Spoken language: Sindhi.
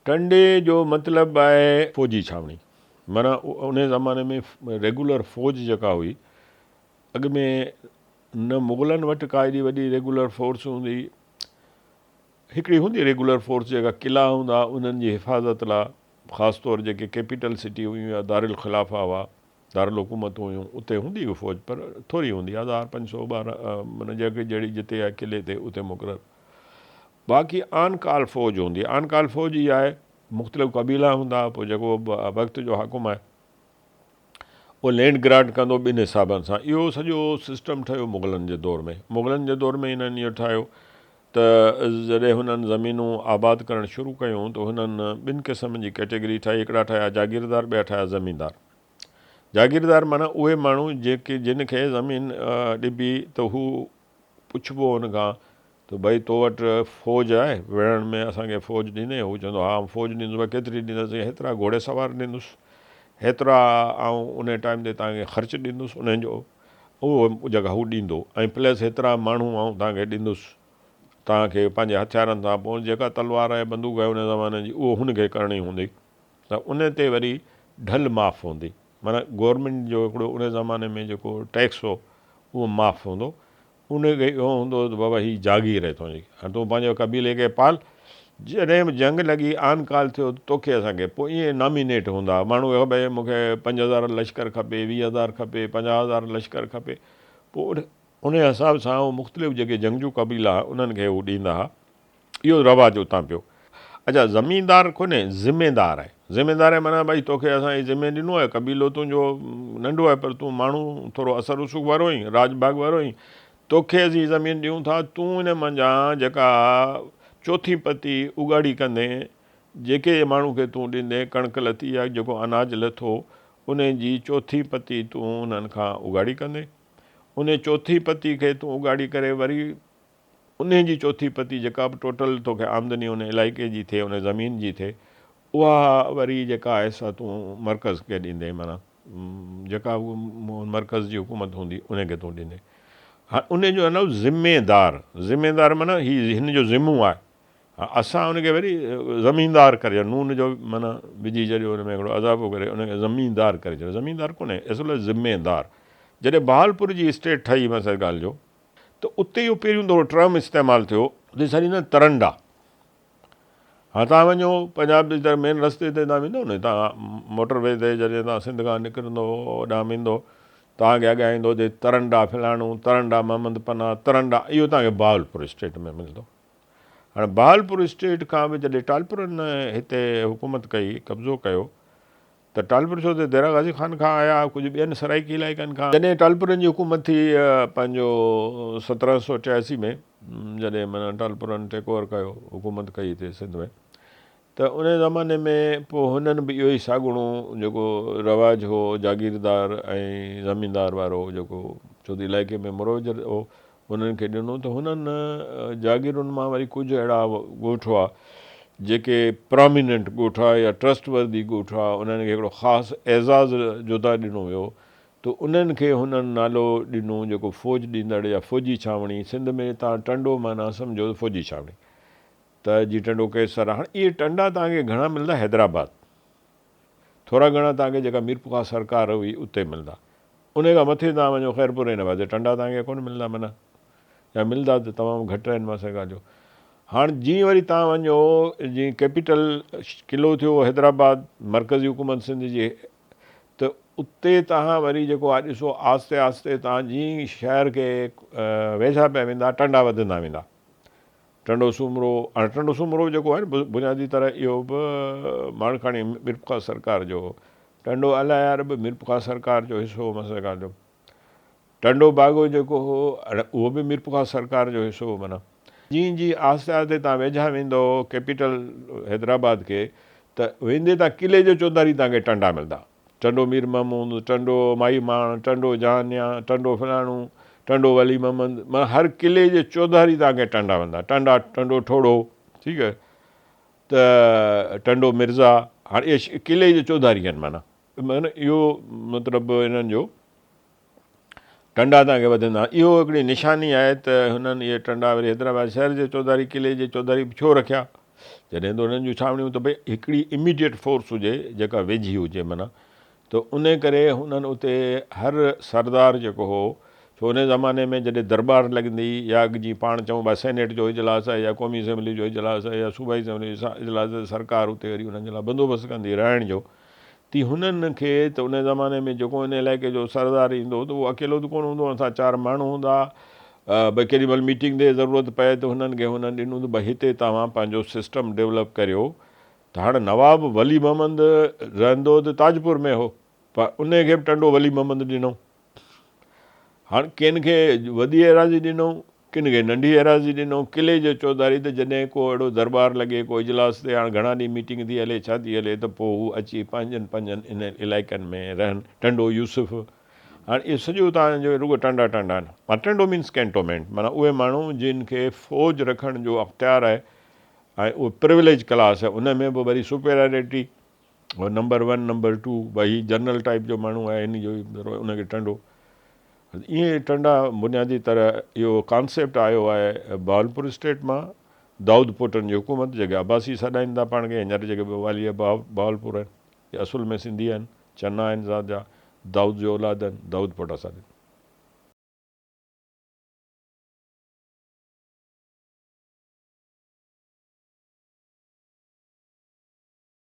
ٽنڊي جو مطلب آهي فوجي ڇانوڻي معنيٰ انهي زماني ۾ ريگولر فوج جيڪا هئي اڳ ۾ نه مغلن وٽ ڪا ايڏي وڏي ريگولر فورس هوندي هئي هڪڙي هوندي ريگولر فورس جيڪا قلعا هوندا انهن جي حفاظت لا خاص طور جيڪي ڪيپيٽل سٽي هيون يا دارالخلافه هئا دارالحڪومتون هيون اتي هوندي به فوج پر ٿوري هوندي هزار پنج سو ٻارهن جڳهه جهڙي جتي آهي قلعي تي اتي مقرر باقي آن ڪال فوج هوندي آن ڪال فوج ئي آهي مختلف قبيلا هوندا پوء جيڪو وقت جو حاڪم آهي او لينڊ گرانٽ ڪندو ٻن حسابن سان اهو سڄو سسٽم ٺهيو مغلن جي دور ۾ مغلن جي دور ۾ هنن اهو ٺاهيو ته جڏهن هنن زمينون آباد ڪرڻ شروع ڪيون ته هنن ٻن قسمن جي ڪيٽيگري ٺاهي هڪڙا ٺاهيا جاگيردار ٻيا ٺاهيا زميندار جاگيردار معنيٰ اهي ماڻهو جيڪي جن کي زمين ڏبي ته هو پڇبو هن کان ته ڀئي تو وٽ فوج آهي وڙهڻ ۾ اسان کي فوج ڏيندين هو چوندو ها آئون فوج ڏيندس به ڪيتري ڏيندس هيترا گهوڙي سوار ڏيندس هيترا آئون انهي ٽائيم تي توهان کي خرچ ڏيندس انهن جو اهو جڳهه هو ڏيندو ۽ پلس هيترا ماڻهو آئون توهان کي ڏيندس توهان کي پنهنجي هٿيارن سان پوء جيڪا تلوار ۽ بندوق آهي ان زماني جي اهو هن کي کرڻي هوندي ته ان تي وري ڍل معاف هوندي معنيٰ گورنمينٽ جو هڪڙو ان زماني ۾ جيڪو ٽيڪس هو اهو معاف هوندو ان کي اهو هوندو هو ته بابا هي جاگير آهي تنهنجي، هاڻ تون پنهنجي قبيلي کي پال، جڏهن به جنگ لڳي، آن ڪال ٿيو ته توکي اسان کي پوء ائين نامينيٽ هوندا هئا، ماڻهو کي خبر مون کي پنج هزار لشڪر کپي، ويهه هزار کپي، پنجاهه هزار لشڪر کپي، پوء انهي حساب سان هو مختلف جيڪي جنگجو قبيلا هئا انهن کي هو ڏيندا هئا. اهو رواج اتان پيو. اچا زميندار ڪونهي ذميدار آهي ذميدار آهي معنيٰ ڀائي توکي اسان هي ذمي ڏنو آهي قبيلو تنهنجو ننڍو آهي پر تون ماڻهو ٿورو اثر رسوخ وارو آهين راڄ ڀاڳ وارو آهين توکي اسين هي زمين ڏيون ٿا تون ان منجهان جيڪا چوٿين پتي اگهاڙي ڪندين جيڪي ماڻهو کي تون ڏيندين ڪڻڪ لٿي يا جيڪو اناج لٿو ان جي چوٿين پتي تون انهن کان اگهاڙي ڪندين انهي چوٿين پتي کي تون اگهاڙي ڪري وري انهي جي چوٿين پتي جيڪا به ٽوٽل توکي آمدني ان علائقي جي ٿئي ان زمين جي ٿئي اها وري جيڪا آهي سا تون مرڪز کي ڏيندين معنيٰ جيڪا به مرڪز جي حڪومت هوندي انهي کي تون ڏيندين هاڻ انهي جو نو ذميدار ذميدار معنيٰ هي هن جو ذمو آهي هاڻ اسان ان کي وري زميندار ڪري ڇڏيو نون جو معنيٰ وجهي ڇڏيو ان ۾ هڪڙو اضافو ڪري ان کي زميندار ڪري ڇڏيو زميندار ڪونهي اصل ذميدار جڏهن بهالپور جي اسٽيٽ ٺهي مثلا ڳالهه جو ته اتي اهو پهريون دفعو ٽرم استعمال ٿيو. جنهن کي اسان چوندا آهيون ترنڊا. هاڻ تهان وڃو پنجاب جي طرف مين رستي تي تهان ويندؤ نه هتان موٽر وي تي جڏهن تهان سنڌ کان نڪرندؤ هوڏانهن ويندؤ تهان کي اڳيان ايندو اچي ترنڊا فلاڻو ترنڊا محمد پناهه ترنڊا اهو تهان کي بهاولپور اسٽيٽ ۾ ملندو. هاڻ بهاولپور اسٽيٽ کان به جڏهن ٽالپرن هتي حڪومت ڪئي قبضو ڪيو ته ٽالپر ڇو ته ديرا غازي خان کان آيا، ڪجهه ٻين سرائيڪي علائقن کان. جڏهن ٽالپرن جي حڪومت ٿي پنهنجو سترهن سؤ چياسي ۾ جڏهن معنيٰ ٽالپرن ٽيڪ اوور ڪيو، حڪومت ڪئي هتي سنڌ ۾ ته انهي زماني ۾ پوء هنن به اهو ئي ساڳڻو جيڪو رواج هو جاگيردار ۽ زميندار وارو جيڪو ڇو ته علائقي ۾ مروج هو انهن کي ڏنو ته هنن جاگيرن مان وري ڪجهه اهڙا ڳوٺ هئا جيڪي پراميننٽ ڳوٺ هئا يا ٽرسٽ وردي ڳوٺ هئا انهن کي هڪڙو خاص اعزاز جودا ڏنو ويو ته انهن کي هنن نالو ڏنو جيڪو فوج ڏيندڙ يا فوجي ڇانوڻي سنڌ ۾ تان ٽنڊو معنيٰ سمجهو فوجي ڇانوڻي ته جي ٽنڊو قيصر هاڻ اهي ٽنڊا توهان کي گهڻا ملندا حيدرآباد ٿورا گهڻا توهان کي جيڪا ميرپورخاص سرڪار هئي اتي ملندا. انهي کان مٿي توهان وڃو خيرپور هن پاسي ٽنڊا توهان کي ڪونه ملندا منه يا ملندا ته تمام گهٽ هن پاسي ڳالهيو. هاڻ جيئن وري توهان وڃو جيئن ڪيپيٽل قلعو ٿيو حيدرآباد مرڪزي حڪومت سنڌ جي ته اتي توهان وري جيڪو آهي ڏسو آهستي آهستي توهان جيئن شهر کي ويجها پيا ويندا ٽنڊا وڌندا ويندا ٽنڊو سومرو، هاڻي ٽنڊو سومرو جيڪو آهي نه بنيادي طرح اهو به ماڻڪاڻي ميرپورخاص سرڪار جو هو. ٽنڊو الايار به ميرپورخاص سرڪار جو حصو هو معنيٰ سرڪار جو ٽنڊو باگو جيڪو هو اهو به ميرپورخاص سرڪار جو حصو هو معنيٰ. جيئن جيئن آهستي آهستي تان ويجها ويندؤ ڪيپيٽل حيدرآباد کي ته ويندي تان قلعي جو چوڌاري تان کي ٽنڊا ملدا. ٽنڊو مير محمود، ٽنڊو ماهي ماڻ، ٽنڊو جهانيان، ٽنڊو فلاڻو، ٽنڊو ولي محمد، معنيٰ هر قلعي جي چوڌاري توهان کي ٽنڊا ملندا. ٽنڊا، ٽنڊو ٺوڙهو، ٺيڪ آهي، ته ٽنڊو مرزا، هاڻ اهي قلعي جي چوڌاري آهن معنيٰ. معنيٰ اهو مطلب انهن جو ٽنڊا تان اڳي وڌندا. اهو هڪڙي نشاني آهي ته هنن اهي ٽنڊا وري حيدرآباد شهر جي چوڌاري قلعي جي چوڌاري به ڇو رکيا؟ جڏهن ته هنن جون ڇانوڻيون ته ڀئي هڪڙي Immediate Force هجي جيڪا ويجهي هجي معنيٰ ته انهي ڪري هنن اتي هر سردار جيڪو هو ڇو انهي زماني ۾ جڏهن درٻار لڳندي يا اڳ جيئن پاڻ چئون ڀا سينيٽ جو اجلاس آهي يا قومي اسيمبلي جو اجلاس آهي يا صوبائي اسيمبلي جو اجلاس آهي ته سرڪار اتي وري انهن جي لاء بندوبست ڪندي رهڻ جو. تي هنن کي ته ان زماني ۾ جيڪو ان علائقي جو سردار ايندو هو ته اهو اڪيلو ته ڪونه هوندو هو، هن سان چار ماڻهو هوندا ها، به ڪيڏي مهل ميٽنگ تي ضرورت پئي ته هنن کي هنن ڏنو ته به هتي توهان پنهنجو سسٽم ڊولپ ڪريو ته هاڻ نواب ولي محمد رهندو ته تاجپور ۾ هو پر ان کي به ٽنڊو ولي محمد ڏنو. هاڻ ڪن کي وڏي ايراضي ڏنئون، ڪن کي ننڍي ايراضي ڏنئون، قلعي جو چوڌاري ته جڏهن ڪو اهڙو درٻار لڳي، ڪو اجلاس ٿئي، هاڻ گهڻا ڏينهن ميٽنگ ٿي هلي، ڇا ٿي هلي ته پوء هو اچي پنهنجن پنهنجن انهن علائقن ۾ رهن، ٽنڊو يوسف، هاڻ اهي سڄو اتان جو رڳو ٽنڊا ٽنڊا آهن، ٽنڊو مينس ڪينٽومينٽ، معنيٰ اهي ماڻهو جن کي فوج رکڻ جو اختيار آهي ۽ اهي پرويليج ڪلاس آهي، ان ۾ به وري سپيريارٽي. هو نمبر ون نمبر ٽو ڀائي هي جنرل ٽائيپ جو ماڻهو آهي هن جو ان کي ٽنڊو ايئن ٽنڊا بنيادي طرح اهو ڪانسيپٽ آيو آهي بهاولپور اسٽيٽ مان دائود پوٽن جي حڪومت جيڪي عباسي سڏائين ٿا پاڻ کي هينئر جيڪي به والي بهاولپور آهن اهي اصل ۾ سنڌي آهن چنا آهن ذات جا دائود جو اولاد آهن دائود پوٽا سڏن